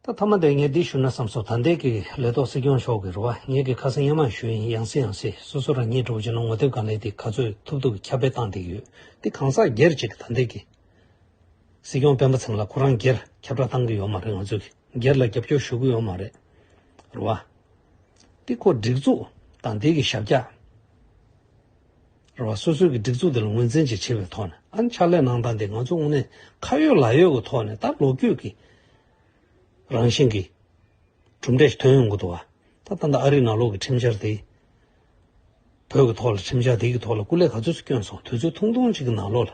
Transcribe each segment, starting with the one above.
ད་མཐའ་མ་དེ་ངས་འདི་ཞུ་ན་བསམ་སོང་ད་འདས་ཀྱི་ལས་ཐོག་སྲིད་སྐྱོང་མཆོག་གི་རུ་བ་ངེད་ཀྱི་ཁ་སང་གཉེན་མང་ཞུ་ཡིན་ཡང་སྲིད་ཡང་སྲིད་སོ་སོ་རང་ཉིད་གྲོགས་བྱས་ན་ངོ་དེབ་གང་ལེགས་དེ་ག་ཚོད་ཐུབ་ཐུབ་ཁྱབ་སྤེལ་བཏང་བསྡད་ཡོད་དེ་གང་ཟག་སྒེར་གཅིག་གི་ད་འདས་ཀྱི་སྲིད་སྐྱོང་སྤེན་པ་ཚང་ལ་ཁོ་རང་སྒེར་ཁྱབ་བསྒྲགས་བཏང་གི་ཡོད་མ་རེད་ང་ཚོས་སྒེར་ལ་རྒྱབ་སྐྱོར་ཞུ་གི་ཡོད་མ་རེད་རུ་བ་དེ་ཁོ་སྒྲིག་འཛུགས་ད་འདས་ཀྱི་ཞབས་ཀྱག། རེ་བ་སོ་སོའི་གི་སྒྲིག་འཛུགས་དེ་ལ་ངོས་འཛིན་བྱེད་ཆེ་བའི་ཐོག་ནས་ཨང་ཕྱག་ལས་གནང་སྟངས་དེ་ང་ཚོ་དངོས་གནས་ཁ་ཡོད་ལག་ཡོད་ཀྱི་ཐོག་ནས་ད་ལོ་རྒྱུས་ཀྱི་རང་བཞིན་གྱི་གྲུབ་འབྲས་ཞིག་ཐོན་ཡོང་གི་འདུག་བ་ད་ད་ནི་ཨ་རིའི་ནང་ལོག་གི་ཁྲིམས་འཆར་དེ་བོད་ཀྱི་ཐོག་ལ་ཁྲིམས་འཆར་དེ་གི་ཐོག་ལ་སྐུ་ལས་ག་ཚོད་སུ་བསྐྱོན་སོང་དུས་ཚོད་ཐུང་ཐུང་གཅིག་གི་ནང་ལོག་ལ།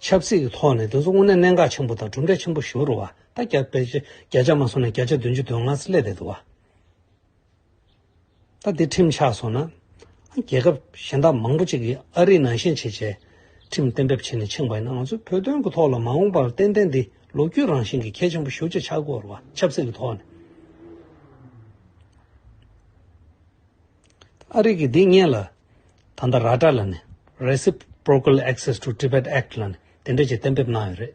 ཆབ་སྲིད་ཀྱི་ཐོག་ནས་དེ་ཚོ་དངོས་གནས་གནད་འགག་ཆེན་པོ་དང་གྲུབ་འབྲས་ཆེན་པོ་ཞུ་རུ་བ་ད་རྒྱ་བོད་ཆེ་རྒྱ་ཆ་མ་སོང་ནས་རྒྱ་ཆ་བདུན་ཅུ་དོན་ལྔ་སི་ལས་བསྡད་འདུག་བ། ད་དེ་ཁྲིམས་ཆགས་སོང་ན། རྒྱལ་ཁབ་གཞན་དག་མང་པོ་ཅིག་གིས་ཨ་རིའི་ནང་ཤན་ཕྱེད་བྱས། ཁྲིམས་གཏན་འབེབས་བྱས་ནས་ཕྱིན་པ་ཡིན་ན་ང་ཚོས་བོད་དོན་གྱི་ཐོག་ལ་མ་འོངས་པར་ཏན་ཏན་འདི་ལོ་རྒྱུས་རང་བཞིན་གྱི་གལ་ཆེན་པོ་ཞུ་བྱེད་ཆགས་དགོས་རུ་བ་ཆབ་སྲིད་ཀྱི་ཐོག་ནས། ཨ་རིག་གིས་འདི་བརྙན་ལ། ད་ལྟ་ར་ཏྲ་ལ་ནི། Reciprocal Access to Tibet Act། ལ་ནི་དེ་འབྲེལ་གྱི་གཏན་འབེབས་གནང་ཡོད་རེད།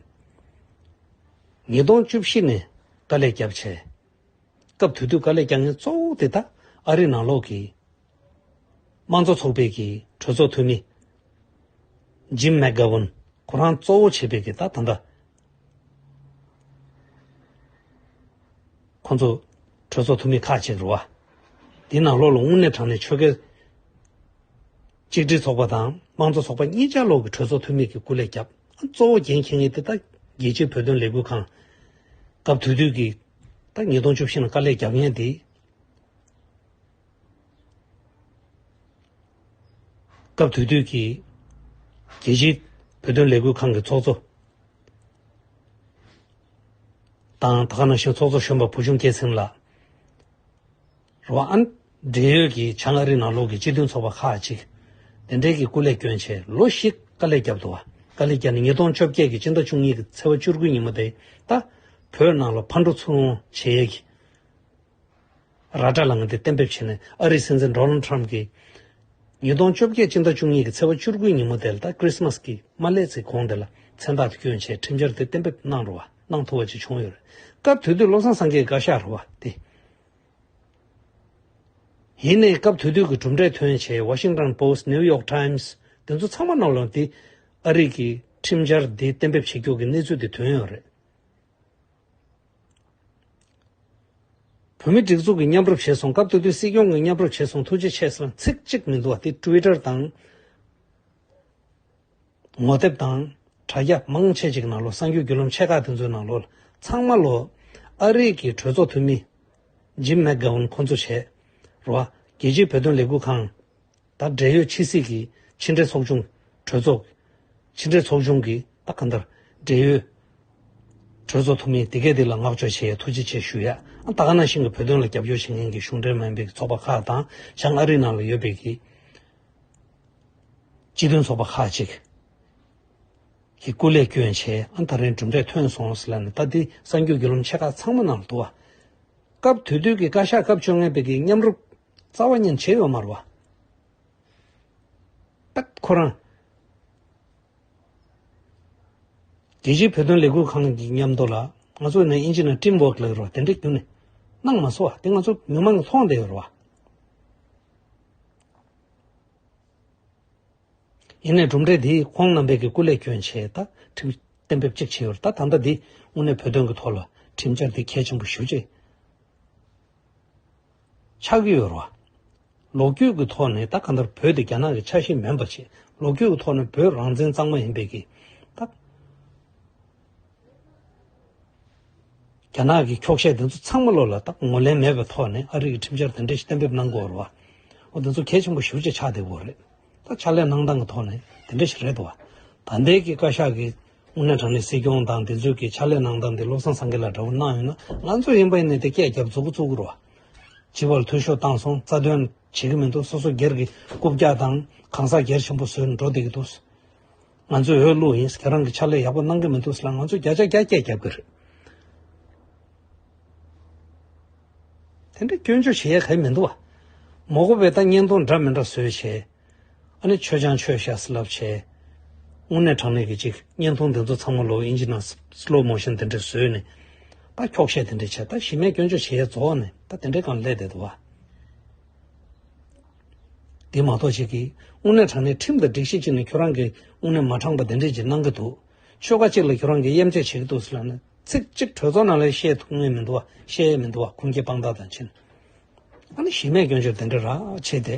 ཉིས་སྟོང་བཅུ་བཞི་ནས་དཀའ་ལས་བརྒྱབ་ཆེད། སྐབས་དེ་དུས་དཀའ་ལས་བརྒྱབ་མཁན་གཙོ་བོ་དེ་དག་ཨ་རིའི་ནང་ལོགས་ཀྱི། དམངས་གཙོ་ཚོགས་པའི་གི་གྲོས་ཚོགས་འཐུས་མི། Jim McGovern། ཁོ་རང་གཙོ་བོ་བྱས་པའི་གི་ད་ད་ལྟ། ཁོང་ཚོ་གྲོས་ཚོགས་འཐུས་མི་ཁག་ཅིག་རུ་བ་འདི་ནང་ལོགས་ལ་དངུལ་གནས་དྲངས་ནས་ཆོལ་ཁའི་གཅིག་སྒྲིལ་ཚོགས་པ་དང་དམངས་གཙོ་ཚོགས་པ་གཉིས་ཆ་ལོག་གི་གྲོས་ཚོགས་འཐུས་མི་གི་སྐུ་ལས་བསྐྱབས། གཙོ་བོ་འགན་འཁྱེར་ངེས་དེ་ད་རྒྱལ་སྤྱིའི་བོད་དོན་ལས་འགུལ་ཁང་སྐབས་དུས་དུས་ཀྱི་ད་ཉིས་སྟོང་བཅུ་བཞི་ལ་དཀའ་ལས་བརྒྱབ་མཁན་དེ། སྐབས་དུས་དུས་ཀྱི་རྒྱལ་སྤྱིའི་བོད་དོན་ལས་འགུལ་ཁང་གི་ཚོགས་གཙོ་དང་ད་ཁ་ནང་བཞིན་ཚོགས་གཙོ་གཞོན་པ་བུ་ཆུང་སྐྱེད་ཚེམས་ལགས་རང་འབྲེལ་ཡོད་ཀྱི་བྱང་ཨ་རི་ནང་ལོགས་ཀྱི་སྤྱི་མཐུན་ཚོགས་པ་ཁག་གཅིག་དེ་འབྲེལ་གྱི་སྐུ་ལས་བསྐྱོན་ཆེད་ལོ་བཞི་དཀའ་ལས་བརྒྱབ་འདུག་དཀའ་ལས་བརྒྱབ་ནས་ཉིས་སྟོང་བཅོ་བརྒྱད་ཀྱི་སྤྱི་ཟླ་བཅུ་གཉིས་ཀྱི་ཚེས་བཅུ་དགུའི་ཉིན་མོ་དེ་ད་བོད་ནང་ལ་ཕར་འགྲོ་ཚུར་འོང་བྱེད་ཀྱི་ར་སྒྲ་ལངས་ཏེ་གཏན་འབེབས་བྱས་ནས་ཨ་རིའི་སྲིད་འཛིན Donald Trump གིས། ཉིས་སྟོང་བཅོ་བརྒྱད་སྤྱི་ཟླ་བཅུ་གཉིས་ཀྱི་ཚེས་བ་བཅུ་དགུའི་ཉིན་མོ་དེ་ལ་ད Christmas གྱི་མ་སླེབས་ཚེ་གོང་དེ་ལ་མཚན་རྟགས་དུས་སྐྱོན་ཆེད་ཁྲིམས་འཆར་དེ་གཏན་འབེབས་གནང་རུང་བ་གནང་ཐུབ་པ་བཅས་བྱུང་ཡོད་རེད། སྐབས་དེ་དུས་བློ་བཟང་སེང་གེས་བཀའ་ཤག་རུ་བ་དེ་ཡིན་ནས་སྐབས་དེ་དུས་ཀྱི་གྲུབ་འབྲས་ཐོན་ཆེད Washington Post New York Times དེ་ཚོ་ཚང་མ་རྣམས་ལ་དེ་ཨ་རིག་གི་ཁྲིམས་འཆར་དེ་གཏན་འབེབས་བྱེད་རྒྱུ་གི་གནས་ཚུལ་དེ་ཐོན་ཡོད་རེད། བོད་མི་སྒྲིག་འཛུགས་ཀྱི་མཉམ་རུབ་བྱས་སོང་སྐབས་སྟོད་དུས་སྲིད་སྐྱོང་གི་མཉམ་རུབ་བྱས་སོང་ཐུགས་རྗེ་ཆེ་ཟེར་བ་ཚིག་གཅིག་མི་འདུག་བ་དེ Twitter དང། ངོ་དེབ་དང། དྲ་རྒྱ་མང་ཆེ་གཅིག་ནང་ལོ་གསང་རྒྱུའི་རྒྱུ་ལམ་ཆེ་ཁག་དེ་ཚོའི་ནང་ལོ་ལ་ཚང་མ་ལོ། ཨ་རིག་གི་གྲོས་ཚོགས་འཐུས་མི། Jim McGovern ཁོང་ཚོ་བྱས། རོ། རྒྱལ་སྤྱིའི་བོད་དོན་ལས་འགུལ་ཁང། དང་འབྲེལ་ཡོད་ཕྱི་སྲིད་ཀྱི་ཕྱི་འབྲེལ་ཚོགས་ཆུང་གྲོས་ཚོགས། ཕྱི་འབྲེལ་ཚོགས་ཆུང་གི་ད་གང་ལྟར་འབྲེལ་ཡོད་གྲོས་ཚོགས་ཐུབ་མིན་དེ་གས་འདི་ལ་བསྔགས་བརྗོད་ཆེ་ཡ་ཐུགས་རྗེ་ཆེ་ཞུ་ཡ། ད་ག་ནང་བཞིན་གྱི་བོད་དོན་ལ་རྒྱབ་སྐྱོར་བྱེད་མཁན་གྱི་གཞུང་འབྲེལ་མིན་པའི་ཚོགས་པ་ཁག་དང་བྱང་ཨ་རི་ནང་ལ་ཡོད་པའི་གི་སྤྱི་དོན་ཚོགས་པ་ཁག་ཅིག་གིས་སྐུ་ལས་བསྐྱོན་བྱས་ཨ་ད་རིང་གྲུབ་འབྲས་ཐོན་སོང་ཟེར་ལ་ནི་ད་འདི་གསར་འགྱུར་རྒྱུད་ལམ་ཆེ་ཁག་ཚང་མ་ནང་དུ་དུ་བ། སྐབས་དུས་དུས་ཀྱི་བཀའ་ཤག་སྐབས་བཅོ་ལྔའི་བོད་ཀྱི་མཉམ་རུབ་རྩ་བ་མཉེན་བྱེད་ཡོ་མར་བ། སྟག་ཁོ་རང། རྒྱལ་སྤྱིའི་བོད་དོན་ལས་འགུལ་ཁང་གི་མཉམ་དུ་ལ་ང་ཚོ་ནི་ཨིན་ཇི་ནི་ཀྲིམ་བོག་ལེགས་རོ་དེ་འདྲ་རྒྱུ་ནི་གནང་མ་སོ་དེ་ང་ཚོ་མི་མང་མཐོང་བདེ་ཡོ་ར་བ། ཡིན་ནས་གྲུབ་འབྲས་དེ་ཁོང་རྣམ་པས་ཀྱི་སྐུ་ལས་ཀྱོན་ཆེ་ད་ཁྲིམས་གཏན་འབེབས་གཅིག་བྱས་ཡོ་ར་ད་ད་ལྟ་དེ་དངོས་གནས་བོད་དོན་གྱི་ཐོག་ལ་ཁྲིམས་འཆར་དེ་གལ་ཆེན་པོ་ཞུ་ཆེ། ཆགས་ཀྱི་ཡོད་རེད། ལོ་རྒྱུས་ཀྱི་ཐོག་ནས་ད་ག་ལྟར་བོད་དེ་རྒྱ་ནག་གི་ཆ་ཤས་མིན་པ་ཆེད་ལོ་རྒྱུས་ཀྱི་ཐོག་ནས་བོད་རང་བཙན་གཙང་མ་ཡིན་པས་ཀྱི་ད་རྒྱ་ནག་གི་འཁྱོག་བཤད་དེ་ཚོ་ཚང་མ་བློ་ལ་ད་ངོ་ལེན་མེད་པའི་ཐོག་ནས་ཨ་རིག་གི་ཁྲིམས་འཆར་དེ་འདྲས་ཤིག་གཏན་འབེབས་གནང་དགོས་རེད། འོ་དེ་ཚོ་གལ་ཆེན་པོ་ཞུ་བྱེད་ཆགས་བསྡད་དགོས་རེད། ད་ཕྱག་ལས་གནང་སྟངས་ཀྱི་ཐོག་ནས་དེ་འདྲས་ཤིག་རེད་དོ། ད་ལྟའི་ཀྱི་བཀའ་ཤག་གི་དངོས་གནས་དྲང་ནས་སྲིད་སྐྱོང་དང་དེ་ཚོས་ཀྱི་ཕྱག་ལས་གནང་སྟངས་དེ་བློ་བཟང་སངས་རྒྱས་ལ་འདྲ་བོ་གནང་ཡོད་ན་ང་ཚོ་ཡིན་པ་ཡིན་ནས་དེ་སྐད་རྒྱབ་རྫོགས་རྫོགས་ཀྱི་རོགས། བྱིས་པར་འཐུས་ཤོར་བཏང་སོང་རྩ་དོན་བྱེད་ཀྱི་མི་འདུག་སོ་སོ་སྒེར་གྱི་རྐུབ་བཀྱག་དང་གང་ཟག་སྒེར་ཆེན་པོ་བཟོས་ནས་འགྲོ་བསྡད་ཀྱི་འདུག། ང་ཚོས་འོས་བླུགས་ཡིན་ཁྱེད་རང་གི་ཕྱག་ལས་ཡག་པོ་གནང་གི་མི་འདུག་ལ་ང་ཚོས་བརྒྱ་ཆ་བརྒྱ་སྐད་རྒྱབ་ཀྱི་རེད། དེ་འདྲའི་སྐྱོན་བརྗོད་བྱེད་ཡ་གལ་མི་འདུག། མོག་པོ་བས་ད་བརྙན་ཐུང་འདྲ་མི་འདྲ་བཟོས་བྱས། ཨ་ནི་ཆོས་སྦྱང་ཆོས་བཤད་སི་ལབ་བྱས། དངོས་གནས་དྲང་གནས་ཀྱི་གཅིག་བརྙན་ཐུང་འདི་ཚོ་ཚང་མ་ལོག་ཨིན་ཇི་ནང Slow Motion དེ་འདྲས་བཟོས་ནས་ད་འཁྱོག་བཤད་དེ་འདྲས་བྱས་ད་གཞི་མེད་སྐྱོན་བརྗོད་བྱེད་ཡས་རྫོགས་ཨ་ནི་ད་དེ་འདྲས་གང་ལས་དེ་དུ་བ། འདི་མ་གཏོགས་གཅིག་གིས་དངོས་གནས་དྲང་གནས་ཁྲིམས་དང་སྒྲིག་གཞི་གཅིག་ནས་ཁྱོད་རང་གིས་དངོས་གནས་མ་དྲང་པ་དེ་འདྲས་ཅིག་གནང་གི་འདུག་ཆོལ་ཁ་གཅིག་ལ་ཁྱོད་རང་གིས་གཡེམ་རྗོད་བྱེད་ཀྱི་འདུག་སི་ལབ་ནས་ཚིག་གཅིག་གྲོས་ཚོགས་ནང་ལས་བཤད་ཐུབ་ངེས་མི་འདུག་བ་བཤད་ཡས་མི་འདུག་བ་ཁུངས་སྐྱེལ་དཔང་རྟགས་དང་མཆན། ཨ་ནི་གཞི་མེད་སྐྱོན་བརྗོད་དེ་འདྲས་རགས་བྱས་དེ།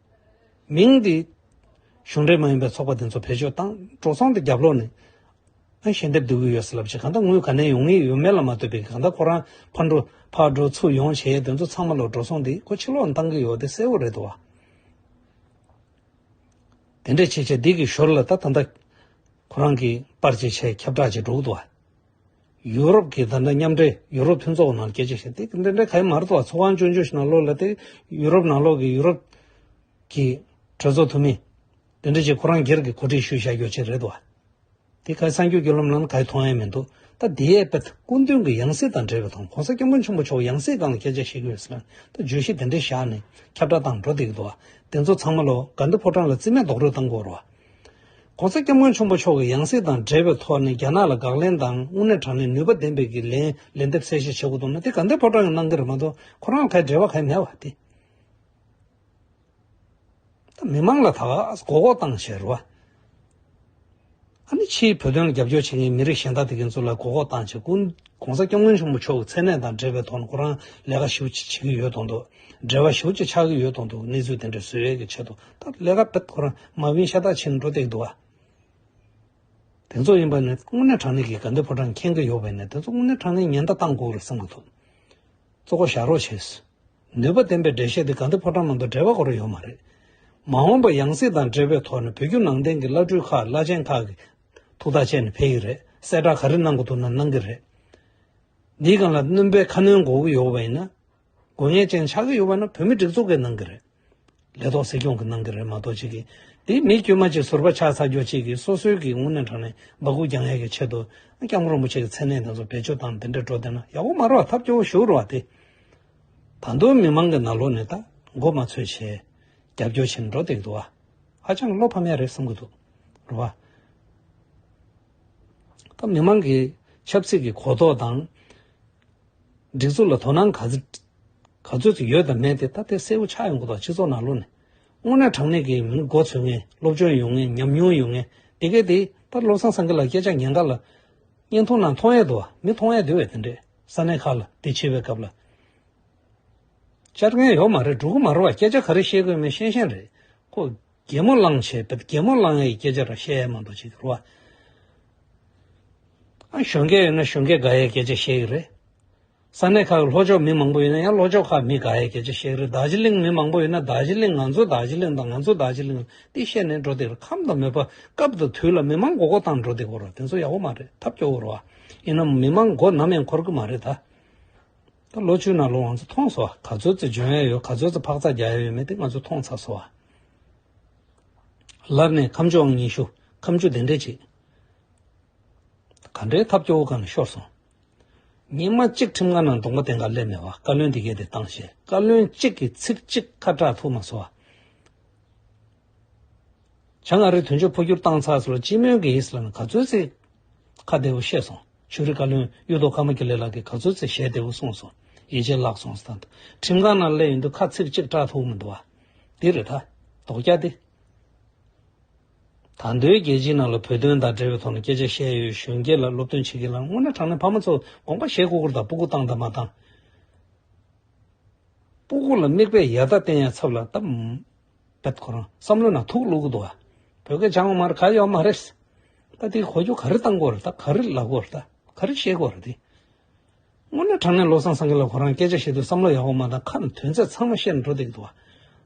མིང་འདི། གཞུང་འབྲེལ་མ་ཡིན་པའི་ཚོགས་པ་འདི་ཚོ་བེད་སྤྱོད་བཏང་གྲོགས་ཚང་དུ་རྒྱབ་ལོག་ནས། ཨ་ཞལ་འདེབས་སྡོད་ཀྱི་ཡོད་ཟེར་ལབ་ཅིག་གང་ལྟ་དངུལ་ག་ནས་ཡོང་ངེས་ཡོད་མེད་ལ་མ་ལྟོས་པའི་གང་ལྟ་ཁོ་རང་ཕར་འགྲོ་ཕར་འགྲོ་ཚུར་ཡོང་བྱེད་ཡས་དེ་ཚོ་ཚང་མ་ལོག་གྲོགས་ཚང་འདིས་ཁོ་ཕྱི་ལོག་ནས་བཏང་གི་ཡོད་དེ་གསལ་བོ་རེད་དོ། དེ་འདྲས་བྱས་བྱས་སྡིག་གི་ཞོར་ལ་ད་ད་ཁོ་རང་གིས་པར་ཅིག་བྱས་ཁྱབ་བསྒྲགས་ཅིག་སྒྲོག་དུ། ཡུ་རོབ་ཀྱི་ཟླ་འདྲ་མཉམ་འབྲེལ་ཡུ་རོབ་མཐུན་ཚོགས་ནང་རྒྱལ་སྤྱིའི་ཞིང་སྡེ་འདི་འདྲའི་ཁ་དམར་ཐོག་ཚོགས་ཁང་བཅོ་འཇུག་ཞིག་ནང་ལོག་ལ་དེ་ཡུ་རོབ་ནང་ལོག་གི་ཡུ་རོབ་ཀྱི་གྲོས་ཚོགས་འཐུས་མི་འདི་འདྲ་ཞིག་ཁོ་རང་སྒེར་གྱི་གོ་སྒྲིག་ཞུས་བཞག་རྒྱུ་ཅིག་རེད་དོ། དེ་གའི་གསར་འགྱུར་བརྒྱུད་ལམ་ནང་ག་ཡི་མཐོང་ཡ་མི་འདུག་ད་ལྡི་ཡའི་པད་སྐུ་མདུན་གྱི་ཡང་སྲིད་དང་འབྲེལ་བའི་ཐོག་གོང་ས་སྐྱབས་མགོན་ཆེན་པོ་མཆོག་ཡང་སྲིད་སྒང་ལ་སྐད་ཆ་བཤད་རྒྱུ་ཡོད་ས་ལ་ད་བརྗོད་གཞི་འདི་འདྲ་བཞག་ནས་ཁྱབ་བསྒྲགས་བཏང་འགྲོ་འདི་གི་འདུག་བ་འདི་ཚོ་ཚང་མ་ལོ་དགའ་འདི་ཕོ་བྲང་ལ་རྩིས་མེད་རྡོག་རོལ་བཏང་དགོས་རོགས། ྋགོང་ས ྋསྐྱབས་མགོན་ཆེན་པོ་མཆོག་གིས་ཡང་སྲིད་དང་འབྲེལ་བའི་ཐོག་ནས་རྒྱ་ནག་ལ་དགག་ལན་དང་དངོས་གནས་དྲང་གནས་ནུས་པ་ལྡན་པའི་གི་ལན་ལན་འདེབས་གསལ་བཤད་བྱེད་དགོས་འདུག་ན་དེ་ག་འདི་ཕོ་བྲང་གི་ནང་གི་རེད་མ་གཏོགས་ཁོ་རང་ལ་ག་འབྲེལ་བ་ག་མེད་བ་དེ། ད་མི་མང་ལ་ད་གོ་གོ་བཏང་བྱས་རུ་བ། ཨ་ནི་ཕྱིའི་བོད་དོན་ལ་རྒྱབ་སྐྱོར་བྱེད་མཁན་མི་རིགས་གཞན་དག་དེ་གའི་ཚོ་ལ་གོ་གོ་བཏང་བྱས་ཀུན ྋགོང་ས ྋསྐྱབས་མགོན་ཆེན་པོ་མཆོག་གི་མཚན་གནས་དང་འབྲེལ་བའི་ཐོག་ནས་ཁོ་རང་ལས་ཀ་ཞིབ་ཅིག་བྱེད་ཀྱི་ཡོད་དོ་འདུག་འབྲེལ་བ་ཞིབ་ཅིག་ཆགས་ཀྱི་ཡོད་དོ་འདུག་གནས་ཚུལ་དེ་འདྲ་བཟོས་ཡོད་ཀྱི་ཆེད་དུ། ལས་ཀ་དཔེ་ཐོ་རངས་མ་བུའི་ཤ་སྟག་ཕྱིར་འགྲོ་སྟེགས་འདུག་ཨ། དེ་ཚོ་ཡིན་པ་ནི་དངོས་གནས་དྲང་གནས་ཀྱི་དགའ་འདུན་ཕོ་བྲང་ཁེངས་ཀྱི་ཡོད་པས་ན་དེ་ཚོ་དངོས་གནས་དྲང་གནས་ཉེན་བརྡ་བཏང་དགོས་ལ་བསམ་མ་ཐུབ། གཙོ་བོ་བཞག་རོགས་བྱོས། ནུས་པ་ལྡན་པའི་འགྲེལ་བཤད་དེ་དགའ་འདུན་ཕོ་བྲང་ནང་དུ་འགྲེལ་པ་གོ་རེ་ཡོད་མ་རེད། མ་འོངས་པར་ཡང་སྲིད་དང་འབྲེལ་བའི་ཐོག་ནས་བོད་བརྒྱུད་ནང་བསྟན་གྱི་བླ་སྤྲུལ་ཁག་བླ་ཆེན་ཁག་གིས་ཐུགས་ཐག་བཅད་ནས་ཕེབས་ཡི་རེད་གསལ་བསྒྲགས་ག་རེ་གནང་དགོས་འདུག་ན་གནང་གི་རེད། འདིའི་སྒང་ལ་བསྣུན་པའི་ཁ་སྣོན་དགོས་ཀྱི་ཡོད་པ་ཡིན་ན། དགོས་ངེས་ཅན་ཆགས་ཀྱི་ཡོད་པ་ནི་བོད་མི་སྒྲིག་འཛུགས་ཀྱི་ནང་གི་རེད། ལས་ཐོག་སྲིད་སྐྱོང་གི་ནང་གི་རེད་མ་གཏོགས་ཅིག་གིས་དེ་མི་དཀྱུས་མ་གཅིག་ཟུར་པ་ཆགས་ཚར་རྒྱུ་གཅིག་གིས་སོ་སོའི་གི་ངུ་ནས་དྲག་ནས་འབག་གུག་རྒྱག་ཡས་ཀྱི་ཆེད་དུ་སྐྱབས་མགོན་རིན་པོ་ཆེ་གི་མཚན་གནས་དེ་ཚོ་བེད་སྤྱོད་བཏང་དེ་འདྲས་འགྲོ་བསྡད་ན་ཡག་པོ་མ་རོགས་ཐབས་སྐྱོ་བོ་ཞུ་རོགས་དེ། ད་དུང་མི་མང་གི་ན་ལོ་ནས་ད་མགོ་མ་ཚོས་བྱས། རྒྱབ་སྐྱོར་བྱས་ནས་འགྲོ་བསྡད་འདུག་ཨ། ཧ་ཅང་བློ་ཕམ་ཡ་རེད་བསམ་གྱི་འདུག་རེད་བ། ད་མི་མང་གི་ཆབ་སྲིད་ཀྱི་གོ་རྟོགས་དང། སྒྲིག་འཛུགས་ལ་དོ་སྣང་ག་ཚོད་ཡོད་དམ་མེད་དེ་ད་ལྟའི་གསལ་བོ་ཆགས་ཡོང་གི་འདུག་སྤྱི་ཚོགས་ནང་ལོ་ནས་དངོས་གནས་དྲང་གནས་ཀྱི་མིང་མགོ་འཚོས་ངེས་སློབ་སྦྱོང་ཡོང་ངེས་ཉམས་མྱོང་ཡོང་ངེས་དེ་གས་དེ་ལྟར་བློ་བཟང་སེང་གེ་ལ་སྐད་ཆ་ཉན་ག་ལ་བརྙན་ཐུང་ནང་མཐོང་ཡས་འདུག་བ་མི་མཐོང་ཡས་འདུག་བས་དེ་འདྲས་ས་གནས་ཁག་ལ་དེ་བྱེད་པའི་སྐབས་ལ་བཅར་མཁན་ཡོག་མ་རེད་འགྲོ་གི་མ་རེད་བ་སྐད་ཆ་ག་རེ་བཤད་དགོས་མེད་ཤེས་ཤེས་རེད་ཁོ། རྒྱལ་མོ་གླང་ཆེན་བུ་རྒྱལ་མོ་གླང་ཡའི་སྐད་ཆ་ར་བཤད་ཡ་མ་འདུག་ཅིག་རོ། གཞོན་སྐྱེས་ཡོད་ན་གཞོན་སྐྱེས་དགའ་ཡའི་སྐད་ཆ་བཤད་ཀྱི་རེད། ས་གནས་ཁག་གི་ལྷོ་ཕྱོགས་མི་མང་པོ་ཡོད་ན་ཡང་ལྷོ་ཕྱོགས་ཁག་མི་དགའ་ཡའི་སྐད་ཆ་བཤད་ཀྱི་རེད་དར་ཇི་གླིང་མི་མང་པོ་ཡོད་ན་དར་ཇི་གླིང་ང་ཚོའི་དར་ཇི་གླིང་དང་ང་ཚོའི་དར་ཇི་གླིང་ཏེ་བཤད་ནས་འགྲོ་བདེ་རེད་ཁམས་དང་མོས་པ་སྐབས་དང་དུས་ལ་མི་མང་མགོ་སྐོར་བཏང་འགྲོ་བདེ་གོ་ར་དེ་ཚོ་ཡག་པོ་མ་རེད་ཐབས་སྐྱོ་བོ་ར་ཡིན་ནམ་མི་མང་མགོ་ནམ་ཡང་འཁོར་གི་མ་རེད་ད། ད་ལོ་ཆུ་ནང་ལོ་ང་ཚོ་མཐོང་སོང་བ་ག་ཚོད་ཚོད་འཇོན་ཡ་ཡོད་ག་ཚོད་ཚོད་འཕག་འཚག་རྒྱག་ཡ་ཡོད་མེད་དེ་ང་ཚོ་མཐོང་ཚར་སོང་བ། ལར་ནས་ཁམས་ཕྱོགས་ཉི་ཤུ་ཁམས་ཆུ་ལྡན་འདྲེ་བྱེད། ག་འདྲའི་ཐབས་སྐྱོ་བོ་གང་ཤོར་སོང། ཉིན་མ་གཅིག་ཁྲིམས་ཁང་ནང་རྡུང་པ་དེ་འགའ་སླེབས་མེད་བ་བཀའ་བློན་འདི་གས་དེ་བཏང་ཞེས་བཀའ་བློན་གཅིག་གི་ཚིག་གཅིག་ཁ་གྲགས་ཐུབ་མ་སོང་བ། བྱང་ཨ་རིའི་དོན་གཅོད་འཕོ་འགྱུར་བཏང་ཚར་སོང་ལ་སྤྱི་མོས་ཀྱི་ཨིསི་ལན་ག་ཚོད་རྩིས། ཁ་བདེ་བོ་བཤད་སོང་ཕྱུགས་རིགས་བཀའ་བློན་གཡུ་ཐོག་ཀ་མ་ཀི་ལེ་ལགས་ཀྱིས་ག་ཚོད་རྩིས་ཞལ་བདེ་བོ་གསུངས་སོང་ཡིད་ཆེས་བརླགས་སོང་ཟད་འདུག་ཁྲིམས་ཁང་ནང་སླེབས་ཡོང་དུས་ཁ་ཚིག་གཅིག་སྐྲག་ཐུབ་མི་འདུག་བ། འདི་རེད་ད། དོག་རྒྱ་འདི། ད་འདོད་རྒྱལ་སྤྱིའི་ནང་ལ་བོད་དོན་དང་འབྲེལ་བའི་ཐོག་ནས་སྐད་ཆ་བཤད་ཡོད་གཞོན་སྐྱེས་ལ་སློབ་སྟོན་བྱེད་ཀྱི་ལ་དངོས་གནས་དྲང་གནས་ཕ་མ་ཚོ་དགོངས་པ་བཞེས་སྐུ་གུར་དང་པུ་གུ་བཏང་དང་མ་བཏང། པུ་གུ་ལ་མིག་དཔེ་ཡག་ད་བསྟན་ཡ་ཚབ་ལ་ད། བབས་ཁོ་རང་བསམ་བློ་ན་ཐུག་བླུགས་འདུག་བོད་སྐད་སྦྱང་བ་མར་ག་ཡོད་མ་རེད། ད་དེ་གོ་རྒྱུ་ག་རེ་བཏང་དགོས་རེད་ད་ག་རེ་ལབ་དགོས་རེད་ད་ག་རེ་བཤད་དགོས་རེད་དེ། སྔོན་ན་དྲང་ནས་བློ་བཟང་སེང་གེ་ལ་ཁོ་རང་སྐད་ཆ་བཤད་དུས་བསམ་བློ་ཡག་པོ་མ་གཏང་ཁ་ན་དོན་ཚད་ཚང་མ་བཤད་ནས་འགྲོ་བསྡད་འདུག་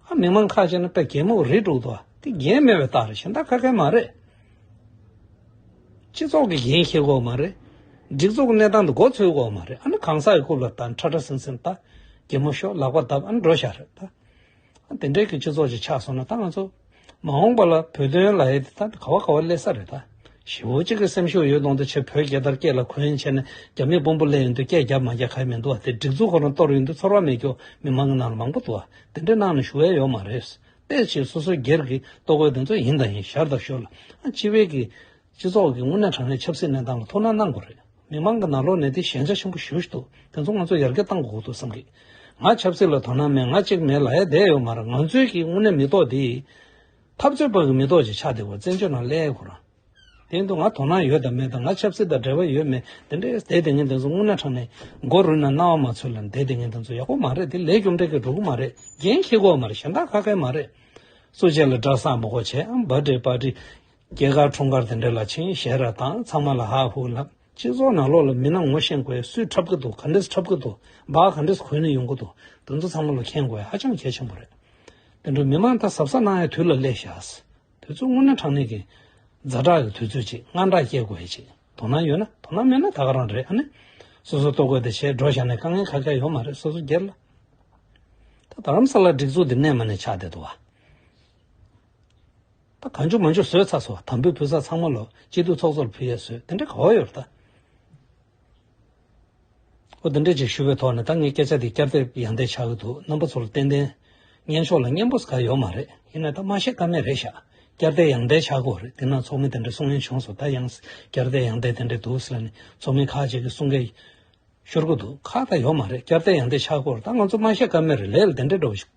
ཨ་མི་མང་ཁ་ཅིག་ན་དཔེ་རྒན་མོ་རེད་འདུག་འདུག་དེ་རྒན་མེད་པའི་རྟགས་རེད་གཞན་དག་ཁ་མཁན་མ་རེད། སྤྱི་ཚོགས་ཀྱི་འགན་འཁྱེར་དགོས་མ་རེད། སྒྲིག་འཛུགས་གནས་སྟངས་འདི་འགོ་འཚོལ་དགོས་མ་རེད་ཨ་ན་གང་ཟག་གི་རྐུབ་ལ་བལྟ་ཁྲ་ཁྲ་སིང་སིང་བལྟ་རྒན་མོ་ཤོག་ལག་པ་བརྡབ་ཨ་ན་འགྲོ་བཞག་རེད་ད། དེ་འདྲའི་སྤྱི་ཚོགས་ཤིག་ཆགས་སོང་ན་ད་ང་ཚོ་མ་འོངས་པ་ལ་བོད་དོན་ལ་ཡི་ད་ག་བ་ག་བ་སླེབས་ས་རེད་ད། ཞི་བོ་གཅིག་གི་སེམས་ཤུགས་ཡོད་གཏོང་དུ་ཆེད་བོད་རྒྱལ་དར་རྐེད་ལ་གོན་བྱས་ནས་རྒྱ་མིས་དཔོན་པོ་གླེང་ཡོང་དུས་སྐད་རྒྱབ་མ་རྒྱབ་ག་ཡེ་མི་འདུག་བ་དེ་སྒྲིག་འཛུགས་ཁོ་རང་གཏོར་ཡོང་དུས་ཚོར་བ་མེད་སྐྱོ་མི་མང་གི་ནང་ལ་མང་པོ་འདུག་བ་དེ་འདྲའི་གནང་ནས་ཞུ་བས་ཡོག་མ་རེད། དཔེ་ཆེད་སོ་སོའི་སྒེར་གྱི་ལྟོ་གོས་དེ་ཚོ་ཡིན་དང་ཡིན་ཞར་དང་ཤོར་ལ་ཨ་ཅི་བས་ཀྱི། སྤྱི་ཚོགས་ཀྱི་དངོས་གནས་དྲང་གནས་ཆབ་སྲིད་གནས་སྟངས་ལ་ཐུགས་སྣང་གནང་དགོས་རེད་མི་མང་གི་ནང་ལོག་ནས་དེ་ཞན་ཆ་ཆེན་པོ་ཞུ་བཞི་འདུག་དེ་ཚོ་ང་ཚོ་ཡར་རྒྱས་གཏང་དགོས་འདུག་བསམ་གི། ང་ཆབ་སྲིད་ལ་དོ་སྣང་མེད་ང་གཅིག་མེད་ལ་ཡ་བསྡད་ཡོད་མ་རེད་ང་ཚོའི་གི་དངོས་གནས་མི་ཐོག་དེ། འཐབ་རྩོད་པ་གི་མི་ཐོག་ཅིག་ཆགས་བསྡད་དགོས་བཙན་བྱོལ་ནང་སླད་ཡོད་དགོས་རང། དེ་ཡིན་དུ་ང་དོ་སྣང་ཡོད་དང་མེད་དང་ང་ཆབ་སྲིད་དང་འབྲེལ་བ་ཡོད་མེད་དེ་འདྲའི་བསྡད་དེ་ངན་དེ་ཚོ་དངོས་གནས་དྲང་གནས་མགོ་རུལ་ནས་རྣ་བ་མ་ཚོས་ལ་བསྡད་དེ་ངན་དེ་ཚོ་ཡག་པོ་མ་རེད་དེ་ལས་རྒྱུ་འབྲས་ཀྱི་འགྲོ་གི་མ་རེད་འགན་ཁྱེད་དགོས་མ་རེད་གཞན་དག་ཁ་ཁའི་མ་རེད། སུ་བྱས་ལ་བསྒྲགས་བསམ་བོ་བྱས་འམ་བ་འདྲེ་པ་འདྲེ། རྒྱལ་ཁག་འཁྲུངས་སྐར་དེ་འདྲ་ལ་ཆིངས་ཞལ་ར་དང་ཚང་མ་ལ་ཧ་ཧུ་ལགས་སྤྱི་ཚོགས་ནང་ལོག་ལ་མི་ནང་ངོ་ཤེས་དགོས་གསུས་འཁྲབ་གི་འདུག་ག་འདྲེས་འཁྲབ་གི་འདུག་སྦག་ག་འདྲེས་གོན་ནས་ཡོང་གི་འདུག་དེ་ཚོ་ཚང་མ་ལ་མཁྱེན་དགོས་ཧ་ཅང་གལ་ཆེན་པོ་རེད་དེ་འདྲ་མི་མང་ལྟ་ཟབ་ས་གནང་ཡ་དུས་ལ་སླེབས་ཤགས། དུས་ཚོད་སྔོན་ན་དྲང་གནས་ཀྱི། རྫ་དྲག་གི་དུས་ཚོད་ཅིག་དངངས་སྐྲག་སྐྱེས་དགོས་ཅིག་དོ་སྣང་ཡོད་ན་དོ་སྣང་མེད་ན་ད་ག་རང་རེད་ཨ་ནི། སོ་སོ་ལྟོ་གོས་དེ་བྱས་འགྲོ་བཞག་ནས་དཀའ་ངལ་ཁ་ཁྱག་ཡོད་མ་རེད་སོ་སོ་སྒེར་ལ། ད་རམ་ས་ལ་སྒྲིག་འཛུགས་དེ་གནས་མ་ནས་ཆགས་བསྡད་འདུག་བ། ད་གང་བྱུང་མ་བྱུང་བཟོས་ཚར་སོང་དམ་འབུལ་ཕུལ་ས་ཚང་མ་ལོ་སྤྱི་འཐུས་ཚོགས་གཙོ་ལ་ཕུལ་ཡས་བཟོས་དེ་འདྲའི་ག་བ་ཡོད་རེད་ད། ཨོ་དེ་འདྲའི་ཅིག་ཞུ་བའི་ཐོག་ནས་ད་ངས་སྐད་ཆ་དེ་བསྐྱར་ལྟས་ཡང་ལྟས་ཆགས་ཀྱི་འདུག་རྣམ་པ་ཚོ་ལ་ཏན་ཏན། སྙན་ཤོག་ལ་སྙན་པོ་ཟེར་ག་ཡོད་མ་རེད་ཡིན་ན་ད་མ་ཤེས་ཀ་མེད་རེད་ཤག་བསྐྱར་ལྟས་ཡང་ལྟས་ཆགས་དགོས་རེད་དེ་ན་ཚོགས་མི་དེ་འདྲ་གསུང་ཡས་བྱུང་སོང་ད་ཡང་བསྐྱར་ལྟས་ཡང་ལྟས་དེ་འདྲས་འདུག་ཟེར་ནས་ཚོགས་མི་ཁག་ཅིག་གིས་གསུང་སྐད་ཤོར་གྱི་འདུག་ཁག་ད་ཡོད་མ་རེད་བསྐྱར་ལྟས་ཡང་ལྟས་ཆགས་དགོས་རེད་ད་ང་ཚོ་མ་ཤེས་ཀ་མེད་རེད་ལས་ལ་དེ་འདྲས་འགྲོ་གི་ཤོག།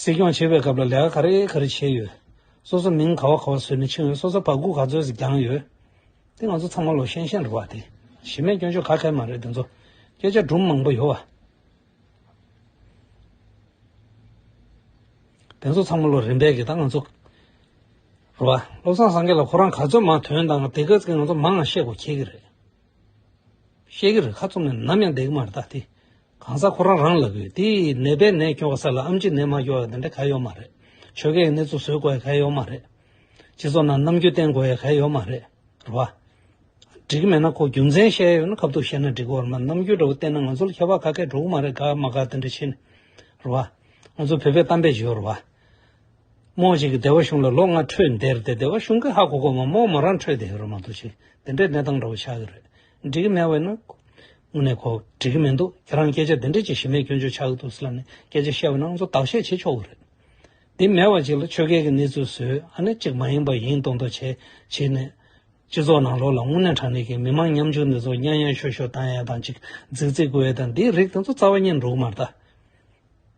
སྲིད་སྐྱོང་བྱེད་པའི་སྐབས་ལ་ལས་ཀ་ག་རེ་ག་རེ་བྱས་ཡོད། སོ་སོ་མིང་ག་བ་ག་བ་བཟོས་ནས་ཕྱིན་ཡོད་སོ་སོ་བག་སྒུག་ག་ཚོད་ཟིག་བརྒྱངས་ཡོད། དེ་ང་ཚོ་ཚང་མ་ལོ་ཤན་ཤན་རེད་བ་དེ་གཞི་མེད་སྐྱོན་ཆོས་ག་གལ་མ་རེད་དེ་ཚོ་སྐད་ཆ་སྒྲུབ་མང་པོ་ཡོད་བ། དེ་ཚོ་ཚང་མ་ལོ་རིམ་པས་གི་ད་ང་ཚོ་རེད་བ། བློ་བཟང་སངས་རྒྱས་ལ་ཁོ་རང་ག་ཚོད་མང་དོན་དང་དེ་ག་ཚོད་ང་ཚོ་མང་ང་ཤེས་དགོས་ཁྱེད་ཀྱི་རེད། ཤེས་ཀྱི་རེད་ཁ་ཙུམ་ནས་ནམ་ཡང་བསྡད་ཀྱི་མ་རེད་ད་དེ་གང་ཟག་ཁོ་རང་རང་ལབ་ཡོད་དེ་ནད་པས་ནད་སྐྱོ་བ་ས་ལ་ཨམ་གྱིས་ནད་མ་སྐྱོ་བ་དེ་འདྲ་ག་ཡོད་མ་རེད་ཆོལ་ཁའི་གནས་ཚུལ་བཟོས་དགོ་ཡ་ག་ཡོད་མ་རེད་སྤྱི་ཚོགས་ནང་རྣམ་འགྱུར་བསྟན་དགོ་ཡ་ག་ཡོད་མ་རེད་རེད་བ། འགྲིག་གི་མེད་ན་ཁོ་རྒྱུ་མཚན་བཤད་ཡོད་ན་ཁབ་ཐུག་བཤད་ན་འགྲིག་གོ་རེད་མ་རྣམ་འགྱུར་འདྲ་བོ་བསྟན་ན་ང་ཚོ་ལ་ཁྱད་པར་ཁ་སྐད་འགྲོ་གི་མ་རེད་དགའ་མ་དགའ་དེ་འདྲ་ཕྱིན་རེད་བ། ང་ཚོ་བོད་པའི་གཏམ་དཔེ་བྱོས་རེད་བ། རྨོངས་བྱེད་ཀྱི་བདེ་བ་གཞུང་ལ་ལོ་ལྔ་འཕྲོད་འདིར་དེ་བདེ་བ་གཞུང་གི་ཧ་གོ་གོ་མ་རྨོངས་མོ་རང་འཕྲོད་དེ་ཧེ་རུ་མ་འདུག་ཅིག་དེ་འདྲའི་གནས་སྟངས་འདྲ་བོ་ཆགས་ཀྱི་རེད་འགྲིག་གི་མེད་བས་ན། དངོས་གནས་ཁོ་འགྲིག་གི་མི་འདུག་ཁྱེད་རང་སྐད་ཆ་དེ་འདྲའི་ཅི་ཞིག་མེད་སྐྱོན་བརྗོད་ཆགས་ཀྱི་འདུག་སི་ལ་ནས་སྐད་ཆ་བཤད་པ་ན་ང་ཚོ་བདག་གཞས་བྱེད་ཆོག་གི་རེད། དེ་མེད་བ་ཅིག་ལ་ཆོལ་ཁའི་གི་གནས་ཚུལ་བཟོས་ཨ་ནི་ཅིག་མ་ཡིན་པ་ཡིན་མདོག་མདོག་བྱས་བྱས་ནས། སྤྱི་ཚོགས་ནང་ལོགས་ལ་དངོས་གནས་དྲང་གནས་ཀྱི་མི་མང་ཉམ་ཆུང་འདི་ཚོ་གཉའ་གཉའ་ཤོ་ཤོ་བཏང་ཡས་དང་ཅིག་རྫིག་རྫིག་བསྐུར་ཡས་དང་འདིའི་རིགས་དེ་ཚོ་རྩ་བ་ཉེར་འགྲུག་མ་རྟ།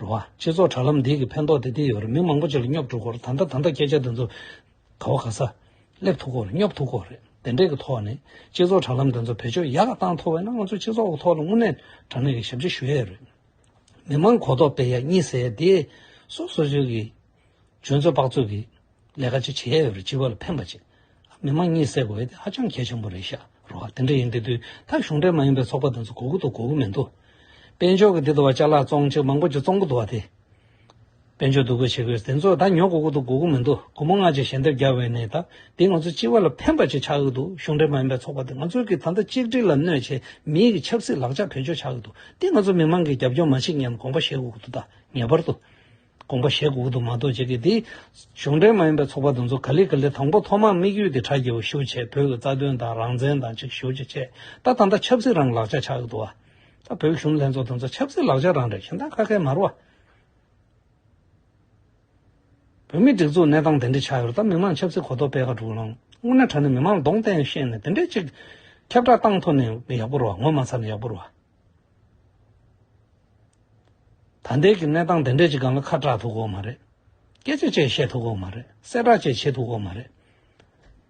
རུ་བ། སྤྱི་ཚོགས་དྲ་ལམ་འདི་གི་ཕན་ཐོགས་དེ་འདི་ཡོད་རེད་མི་མང་པོ་ཅིག་ལ་སྙོབ་འགྲོ་སྐོར་ད་ལྟ་ད་ལྟ་སྐད་ཆ་འདི་ཚོ་ག་བ་ག་ས། སླེབས་ཐུབ་སྐོར་སྙོབ་ཐུབ་སྐོར་རེད་དེ་འདྲས་ཀྱི་ཐོག་ནས་སྤྱི་ཚོགས་དྲ་ལམ་འདི་ཚོ་བེད་སྤྱོད་ཡག་གཏང་ཐུབ་བས་ན་ང་ཚོ་སྤྱི་ཚོགས་ཀྱི་ཐོག་ལ་དངོས་གནས་དྲ་གནས་ཀྱི་ཞབས་ཕྱི་ཞུ་ཡས་རེད། མི་མང་གོ་རྟོགས་སྤེལ་ཡས་གཉིས་སེ་དེ། སོ་སོ་ཅིག་གིས་ཁྱོད་ཚོས་དཔག་ཚོད་ཀྱིས་ལས་ཀ་ཅི་བྱས་ཡོད་རེད་སྤྱི་བ་ལ་ཕན་པ་ཅིག་མི་དམངས་གཉིད་སད་དགོས་ཡོད་ཧ་ཅང་གལ་ཆེན་པོ་རེད་ཤག་རོ་ཨ་དེ་འདྲ་ཡིན་དེ་དུས་ད་གཞུང་འབྲེལ་མ་ཡིན་པའི་ཚོགས་པ་དེ་ཚོ་གོ་གི་འདུག་གོ་གི་མི་འདུག་དཔལ་འབྱོར་གྱི་འདི་དུ་བ་ལྕགས་ལ་བཙོང་ཅིག་མང་པོ་ཅིག་བཙོང་གི་འདུག་བ་དེ། དཔལ་འབྱོར་སྡུག་གི་བྱེད་དགོས་དེ་ཚོ་ད་ཉོ་གོ་གི་འདུག་གོ་གི་མི་འདུག་སྒོར་མོ་སྔ་རྗེས་ཞལ་འདེབས་རྒྱག་བའི་ནས་ད་དེ་ང་ཚོ་སྤྱི་བ་ལ་ཕན་པ་ཅིག་ཆགས་ཀྱི་འདུག་གཞུང་འབྲེལ་མ་ཡིན་པའི་ཚོགས་པ་དེ་ང་ཚོའི་གི་ད་ལྟ་གཅིག་སྒྲིལ་ལ་གནོད་བྱེད་མིའི་གི་ཆབ་སྲིད་ལག་ཆ་བེད་སྤྱོད་ཆགས་ཀྱི་འདུག་དེ་ང་ཚོ་མི་དམངས་ཀྱིས་རྒྱབ་སྐྱོར་མ་བྱེད་སྙམ་དགོངས་པ་བཞེས་གོ་གི་འདུག་ད་ངེས་པར་དུ། དགོངས་པ་བཞེད་དགོས་དུ་མ་གཏོགས་བྱེད་ཀྱི་འདི། གཞུང་འབྲེལ་མ་ཡིན་པའི་ཚོགས་པ་དེ་ཚོ་ག་ལེ་ག་ལེ་དང་པོ་ཐོག་མར་དམིགས་ཡུལ་དེ་དྲ་རྒྱའོ་ཞུ་བྱེད་བོད་ཀྱི་རྩ་དོན་དང་རང་བཙན་དང་ཅིག་ཞུ་བྱེད་ཆེད་ད་ད་ད་ཆབ་སྲིད་རང་ལག་ཆ་ཆག་གི་འདུག་ཨ། བོད་གཞུང་ལྷན་ཚོགས་དེ་ཚོ་ཆབ་སྲིད་ལག་ཆ་རང་རེད་ཞིང་དག་ཁ་ཁའི་མར་བ། བོད་མི་སྒྲིག་འཛུགས་གནས་སྟངས་དེ་འདྲས་ཆག་ཡོད་ད་མི་མང་ཆབ་སྲིད་གོ་རྟོགས་སྤེལ་ཁ་དྲུག་ལོངས་དངོས་གནས་དྲ་ནས་མི་མང་ལ་གདོང་བསྟན་ཤེས་ནས་དེ་འདྲས་ཅིག། ཁྱབ་བསྒྲགས་བཏང་ཐོ་ནས་ཡག་པོ་རོ་ངོ་མ་ཚར་ནས་ཡག་པོ་རོ། ད་ལྟའི་གནས་སྟངས་དེ་འདྲས་ཀྱི་སྒང་ལ་ཁ་གྲག་ཐུབ་ཁོག་མ་རེད། སྐད་ཆ་བཅས་བཤད་ཐུབ་ཁོག་མ་རེད་གསལ་བསྒྲགས་བཅས་བྱེད་ཐུབ་ཁོག་མ་རེད།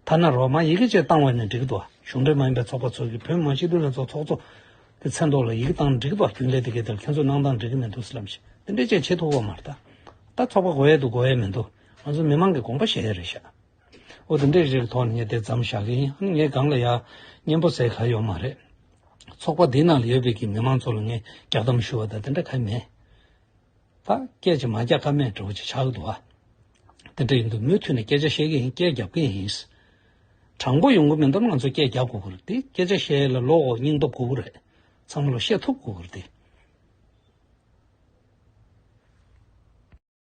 ཐ་ན་རོགས་དམག་ཡི་གེ་བཅས་བཏང་བས་ནི་འགྲིག་འདུག་གཞུང་འབྲེལ་མ་ཡིན་པའི་ཚོགས་པ་ཚོ་གིས་བོད་དམངས་སྤྱི་མཐུན་ལྷན་ཚོགས་ཚོགས་གཙོ་གི་མཚན་ཐོག་ལ་ཡི་གེ་བཏང་འགྲིག་འདུག་རྒྱུན་ལས་དེ་གའི་དེར་ཁྱོད་ཚོ་གནང་སྟངས་འགྲིག་གི་མི་འདུག་ལབ་ཅིག་དེ་འདྲས་བཅས་བྱེད་ཐུབ་ཁོག་མ་རེད། ད་ཚོགས་པ་གོ་ཡས་འདུག་གོ་ཡས་མི་འདུག་ང་ཚོ་མི་མང་གི་དགོངས་པ་བཞེས་ཡས་རེད་ཤག། ཨོ་དེ་འདྲའི་རིགས་ཐོག་ནས་དེ་ཙམ་བཞག་གི་ཡིན་ངས་སྒང་ལ་ཡག་སྙན་པོ་ཟེར་ག་ཡོད་མ་རེད། ཚོགས་པ་འདི་ནང་ལ་ཡོད་པའི་གི་མི་མང་ཚོ་ལ་ངས་རྒྱག་གཏམ་ཞུ་བ་དང་དེ་འདྲ་ག་མེད། ད་སྐད་ཅིག་མ་རྒྱག་ཀ་མེད་འགྲོ་ཅིག་ཆགས་འདུག་ཨ། དེ་འདྲ་ཡིན་དུས་མུ་འཐུད་ནས་སྐད་ཆ་བཤད་གི་ཡིན་སྐད་རྒྱབ་ཀི་ཡིན། དྲང་པོ་ཡོང་གི་མིན་སྟབས་ང་ཚོས་སྐད་རྒྱག་དགོས་གི་རེད་དེ་སྐད་ཆ་བཤད་ཡས་ལ་བློ་འོག་སྙིང་སྟོབས་དགོས་གི་རེད། ཚང་མ་ལ་བཤད་ཐུབ་དགོས་གི་རེད་དེ།